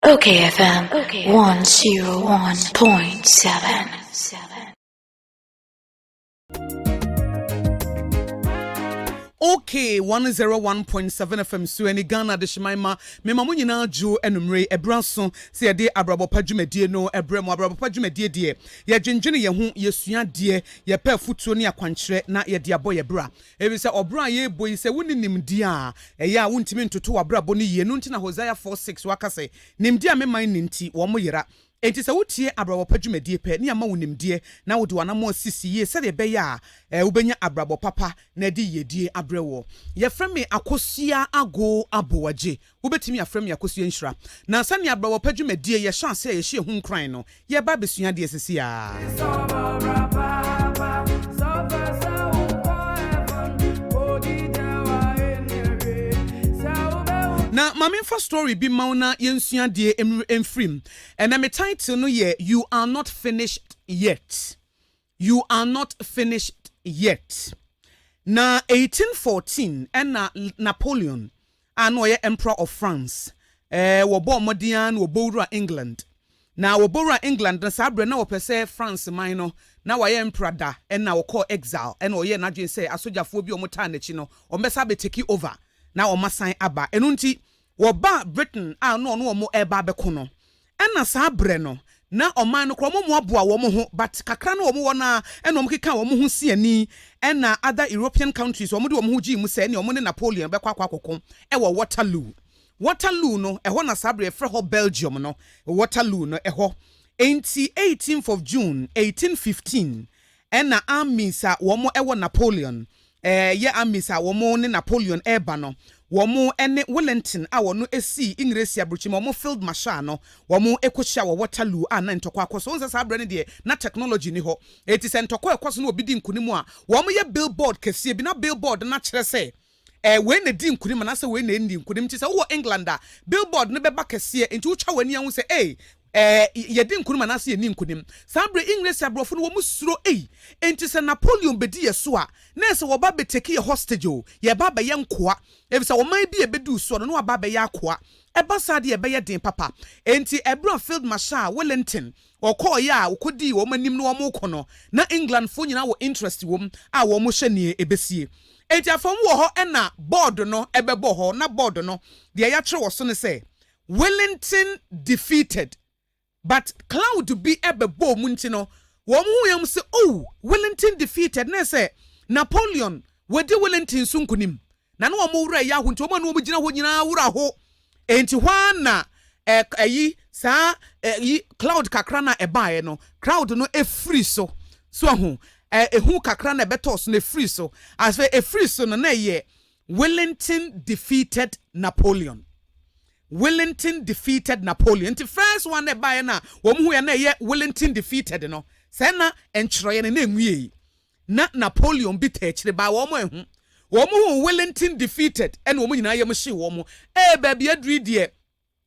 Okay FM 101.7. okay 101.7 fm so ɛne ghana de hyeman ma mema mo nyinaa dwo anumere ɛberɛ so sɛ yɛde abrabɔpa dwumadie no ɛberɛ mu abrabɔpa dwumadie deɛ yɛdwendwene yɛn ho yɛsua deɛ yɛpɛ afotuo ne akwankyerɛ na yɛde abɔ yɛ bra Efisɛ ɔbra a yɛrebɔ yi, sɛ wunni nimdeɛ a, ɛyɛ a wuntumi ntoto w'abrabɔ no yiye. Ɛno nti na Hosea 4, 6, waka sɛ, Nimdeɛ a me man nni nti, wɔyera. Enti sɛ wutie abrabɔ pa dwumadi pɛ, na yɛama wo nimdeɛ, na wode w'anammɔn sisi yiye sɛnea ɛbɛyɛ a wubenya abrabɔ papa na ɛde yiyedi abrɛ woɔ. Yɛfrɛ me Akosua Ago Aboagye. Wobɛtumi afrɛ me Akosua Nhyira. Na sɛnea abrɛwɔpɛ dwumadie yɛ hyɛ aseɛ a yɛhyɛ ɛho nkuran no, yɛreba abɛsua adeɛ sɛsiaa. Na ma me mfa story bi mma wo na yɛnsua adeɛ mfiri mu. Ɛnɛ me title no yɛ You Are Not Finished Yet. You are not finished yet. Na eighteen fourteen ɛna Napoleon a na ɔyɛ Emperor of France ɛɛ wɔbɔɔ mmɔden ara na wɔbɔ wura England. Na wɔbɔ wura England no saa berɛ na wɔpɛ sɛ France man no na wayɛ Emperor da ɛna ɔkɔɔ exile ɛna ɔyɛɛ n'adwene sɛ asogyafoɔ bi a wɔtaa n'akyi no wɔbɛsa abɛtake over na wɔasan aba. Ɛno nti wɔbaa Britain a na ɔne wɔn reba abɛko no, ɛna saa berɛ no, na ɔman no koraa wɔmmoaboa wɔn ho, but kakra no a wɔwɔ no ara na wɔkekaa wɔn ho si ani, ɛna other European countries wɔde wɔn ho gyee mu sɛ ɛneɛ wɔne Napoleon bɛkɔ akɔ akɔko wɔ Waterloo. Waterloo no, ɛhɔ na saa berɛ yɛfrɛ hɔ Belgium no, Waterloo no, ɛhɔ. Enti 18th of June 1815, Ɛna armies a wɔn wɔ Napoleon eh, yɛ armies a wɔn ne Napoleon reba no, wɔn ne Wellington a wɔn sii Engiresi aburukyi ma wɔn field marshal no, wɔn kɔhyia wɔ Waterloo a na ntɔkwa akɔ so. Wohu sɛ saa berɛ no deɛ na technology nni hɔ, enti sɛ ntɔkwa ɛkɔ so na obi di nkunim a, wɔn yɛ billboard kɛseɛ bi, na billboard no akyerɛ sɛ, Ɛɛ, wei na edi nkonim anaasɛ wei na enni nkonim? Enti sɛ wowɔ England a, billboard no bɛba kɛseɛ, enti wotwa w'ani a, wohu sɛ, ei, ɛɛ, yɛdi nkonim anaasɛ yenni nkonim. Saa berɛ yi, Engiresi aborɔfo no, wɔsuro, ei, enti sɛ Napoleon bɛdi yɛn so a, na ɛyɛ sɛ wɔreba abɛtake yɛn hostage o, yɛreba abɛyɛ nkoa, efisɛ ɔman bi a ɛbɛduu soɔ no, na wɔaba abɛyɛ akoa. Ɛba saa deɛ, ɛbɛyɛ den papa. Enti ɛberɛ a Field Marshal Wellington Wɔkɔɔeɛ a wɔkɔdii wɔn anim na wɔrekɔ no, na Englandfoɔ nyinaa wɔ interest wɔ mu a wɔhwɛ deɛ ɛbɛsie. Enti afei wɔwɔ hɔ na board no bɛbɔ hɔ, na board no deɛ yɛatwerɛ wɔ so ne sɛ, Willington defeated. But cloud bi bɛbɔɔ mu nti no, wɔhuuiɛ wɔn sɛ, Oh! Willington defeated, na ɛyɛ sɛ Napoleon, wadi Willington so nkonim. Na ne wɔn werɛ yɛ ahow nti, wɔn a na wɔgyina hɔ nyinaa werɛ ahow. Enti hɔ ara na ɛ, ayi, saa ɛ, yi, cloud kakra no a ɛbaeɛ no, cloud no firii so. So ahu? Ɛ, ehu kakra no a ɛbɛtɔɔ so no, efirii so. Afei, efirii so no, na ɛyɛ Wellington defeated Napoleon. Wellington defeated Napoleon. Nti first one na ɛbaeɛ no a wɔn huiɛ na ɛyɛ Wellington defeated no, sɛɛ na ntwerɛeɛ no na enwiei. na Napoleon bi taa akyire baa wɔn ɛho. Wɔn huu Wellington defeated ɛna wɔn nyinaa yam hyee wɔn. Ee baabi aduru yi deɛ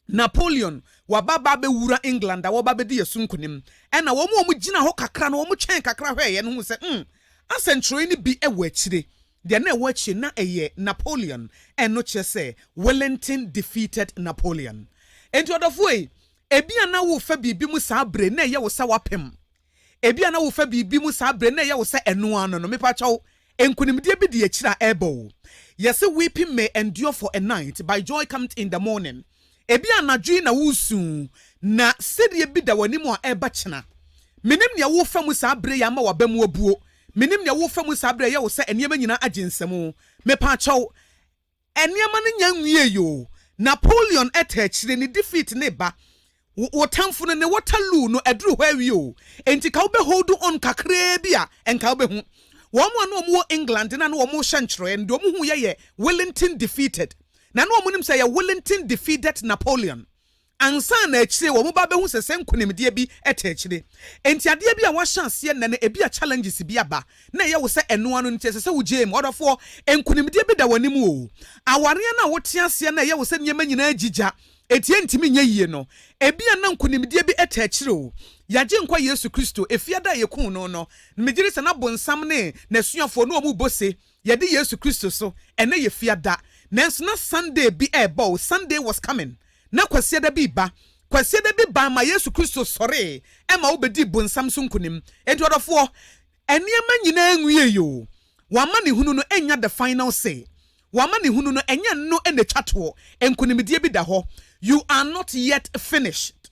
Napoleon waba ba abɛwura England a wɔba abɛdi yɛ so nkunim. Ɛna wɔn a wɔgyina hɔ kakra no wɔn twɛn kakra hwɛɛeɛ no huu sɛ hmm asɛnkyerɛwee no bi wɔ akyire. Deɛ na ɛwɔ akyire na ɛyɛ Napoleon ɛno kyerɛ sɛ Wellington defeated Napoleon. Enti ɔdɔfoɔ yi ebia na worefa biribi mu saa bere na ɛyɛ wo sɛ wapem. Ebia na wofa biribi mu saa bere no, na ɛyɛ wo sɛ ɛno ara no no. Mepakyɛw, nkonimdie bi di akyire a ɛrebɔ wo. Yɛse weeping may endure for a night, by joy cometh in the morning. Ebia anadwo yi na woresu, na sereɛ bi da w'anim a ɛreba kyena. Menim nea worefa mu saa bere yi a ama w'aba mu abuo. Menim nea worefa mu saa bere a ɛyɛ wo sɛ nneɛma nyinaa agye nsam. Mepakyɛw, Nneɛma no nya nwiei oo. Napoleon ta akyire ne defeat ne ba wo wo tamfo no ne Waterloo no aduru hɔ awie oo enti ka wobɛ hold on kakraa bi a nka wobɛhu wɔn a na wɔn wɔ England na na wɔn rehyɛ ntwerɛeɛ no deɛ wɔn huiɛ yɛ Willington defeated na na wɔn nim sɛ ɛyɛ Willington defeated Napoleon Ansa na akyire wɔba bɛhu sɛ sɛ nkonimdie bi te akyire. Enti adeɛ bi a wahyɛ aseɛ nnɛ no ebia challenges bi aba na ɛyɛ wo sɛ ɛnoa no nti ɛsɛ sɛ wo gyae mu. Ɔdɔfoɔ, nkonimdie bi da w'anim oo. Awareɛ no a wote aseɛ na ɛyɛ wo sɛ nneɛma nyinaa agyi gya enti ɛntumi nyɛ yie no, ebia na nkonimdie bi te akyire oo. Y'Agyenkwa Yesu Kristo, efie da a yɛkuu no no, megyedi sɛ na bonsam ne n'asuafoɔ no wɔn rebɔ se, yɛde Yesu Kristo so, ɛnnɛ yɛ fiada. Nanso na Sunday bi ɛrebɔ oo, Sunday was coming. Na Kwasiada bi reba. Kwasiada bi baa ma Yesu Kristo sɔree ma wobedii bonsam so nkonim. Enti ɔdɔfoɔ, nneɛma nyinaa nwiei o. W'amanehunu no nnya the final say. W'amanehunu no, ɛnyɛ ɛno na etwa toɔ. Nkonimdie bi da hɔ. You are not yet finished.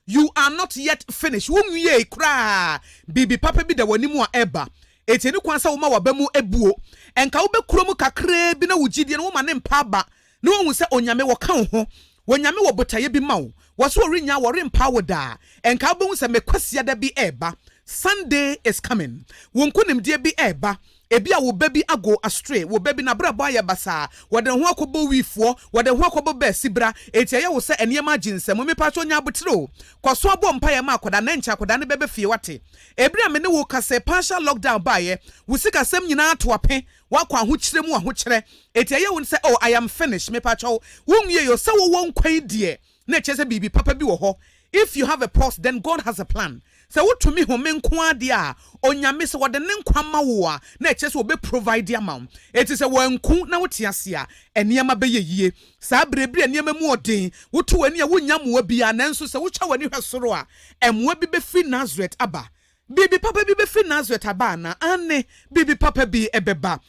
You are not yet finished. Wunwiei koraa. Biribi papa bi da w'anim a ɛreba. Enti ɛne kwan sɛ woma w'aba mu buo. Ɛnka wobɛkuro mu kakraa bi na wo gyidie no woma no mpa aba na woahu sɛ Onyame wɔka wo ho. Onyame wɔ botaeɛ bi ma wo. Wɔse ɔrennyaa wo, ɔrempa wo da. Ɛnka wobɛhu sɛ me Kwasiada bi reba. Sunday is coming. Wo nkonimdie bi reba. Ebia wo ba bi ago asotwe, wo ba bi n'abrabɔ ayɛ basaa, wɔde ne ho akɔbɔ wifoɔ, wɔde ne ho akɔbɔ baasibra, enti ɛyɛ wo sɛ nneɛma agye nsam. Mepakyɛw nya aboterɛ o. Kɔ so bɔ mpaeɛ ma akwadaa no, ɛnkyɛ akwadaa no bɛba fie, woate. Bere a me ne wo reka sɛ partial lockdown baeɛ, wo sikasɛm nyinaa ato ape, woakɔ ahokyerɛ mu ahokyerɛ, enti ɛyɛ wo sɛ oh, I am finished. Mepakyɛw, wonwiei o, sɛ wowɔ nkwa yi deɛ, na ɛkyerɛ sɛ biribi papa bi wɔ hɔ If you have a pulse then God has a plan Sɛ wotumi home nko ara deɛ a Onyame sɛ ɔde ne nkwa ma wo a na ɛkyerɛ sɛ ɔbɛ provide ama wo Enti sɛ wanku na wote ase a nneɛma bɛyɛ yie Saa berɛ bi a nneɛma mu ɔden woto w'ani a wonnya mmoa biara nanso sɛ wotwa w'ani hwɛ soro a mmoa bi bɛfiri Nasaret aba Biribi papa bi bɛfiri Nasaret aba anaa? Aane, biribi papa bi bɛba.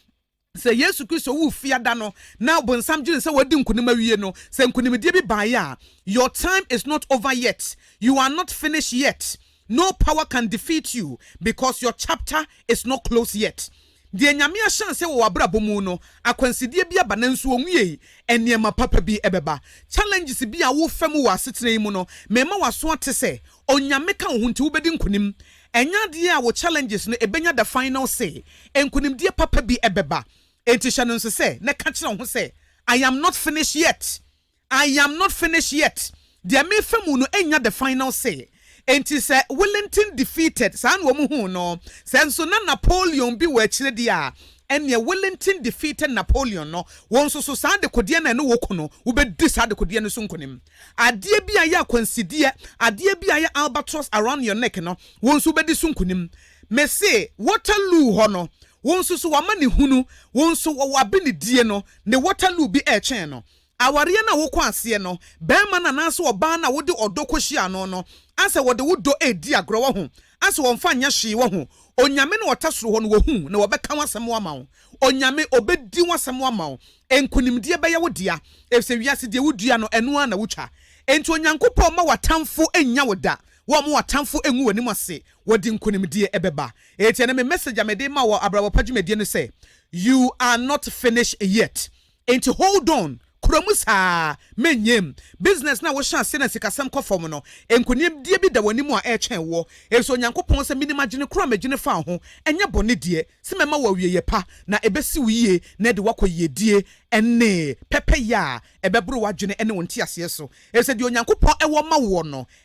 Sɛ Yesu Kristo wu Fiada no na Ɔbonsam dwene sɛ wadi nkonim awie no, sɛ nkonimdie bi baeɛ a, your time is not over yet, you are not finished yet, no power can defeat you because your chapter is not closed yet. Deɛ Nyame ahyɛ aseɛ wɔ w'abrabɔ mu no, akwansideɛ bi aba nanso ɔnwiei, nneɛma papa bi bɛba. Challenges bi a worefa mu wɔ asetena yi mu no, mema w'aso ate sɛ Onyame ka wo ho nti wobɛdi nkonim. Ɛnyɛ adeɛ a wo challenges no ɛbɛnya the final say. Nkonimdie papa bi ɛbɛba. Enti hyɛ no nso sɛ na ka kyerɛ wo ho sɛ I am not finish yet. I am not finish yet. Deɛ mefa mu no ɛnnya the final say. Enti sɛ Willington defeated saa na wɔn huu no. Sɛ nso na Napoleon bi wɔ akyire deɛ a, ɛnneɛ Willington defeated Napoleon no. Wo nso so saa dekodeɛ no a ɛne wo ko no, wobɛdi saa dekodeɛ no so nkonim. Adeɛ bi a ɛyɛ akwansideɛ, adeɛ bi a ɛyɛ albatross around your neck no, wo nso wobɛdi so nkunim. Me se, Waterloo hɔ no, wo nso so w'amanehunu, wo nso wɔ w'abenedie no, ne Waterloo bi ɛretwɛn no. Awareɛ no a wokɔ aseɛ no, barima no anaasɛ ɔbaa no a wode ɔdɔ kɔhyia no no, asɛ wɔde wo dɔ redi agorɔ, wahu? A sɛ wɔmfa nyɛ hwee, woahu, Onyame no ɔta soro hɔ no, wohu, na wɔbɛka wo asɛm ama wo. Onyame, Obedi wo asɛm ama wo. Nkonimdie bɛyɛ wo dea, efisɛ wiase deɛ wodua no, ɛno ara na wotwa. Enti Onyankopɔn mma w'atamfo nnya wo da, wɔmma w'atamfo ngu w'anim ase, wɔde nkonimdie ɛbɛba. Enti ɛnnɛ me message a mede rema wo wɔ Abrabɔ Pa dwumadie no sɛ, You are not finished yet. Enti hold on, kura mu saa, mɛnnyam. Business no a wohyɛ aseɛ na sikasɛm kɔ fam no, nkonimdie bi da w'anim a ɛretwɛn woɔ. Ɛsɛ Onyankopɔn sɛ menim adwene korɔ a mɛdwene faa ho, ɛnyɛ bɔne deɛ, sɛ mɛma wo awieɛ pa, na ɛbɛsi wo yie na ɛde wo akɔ yiedie ne pɛpɛyɛ a ɛbɛboro w'adwene ne wo nteaseɛ so, ɛfiri sɛ deɛ Onyankopɔn wɔ ma woɔ no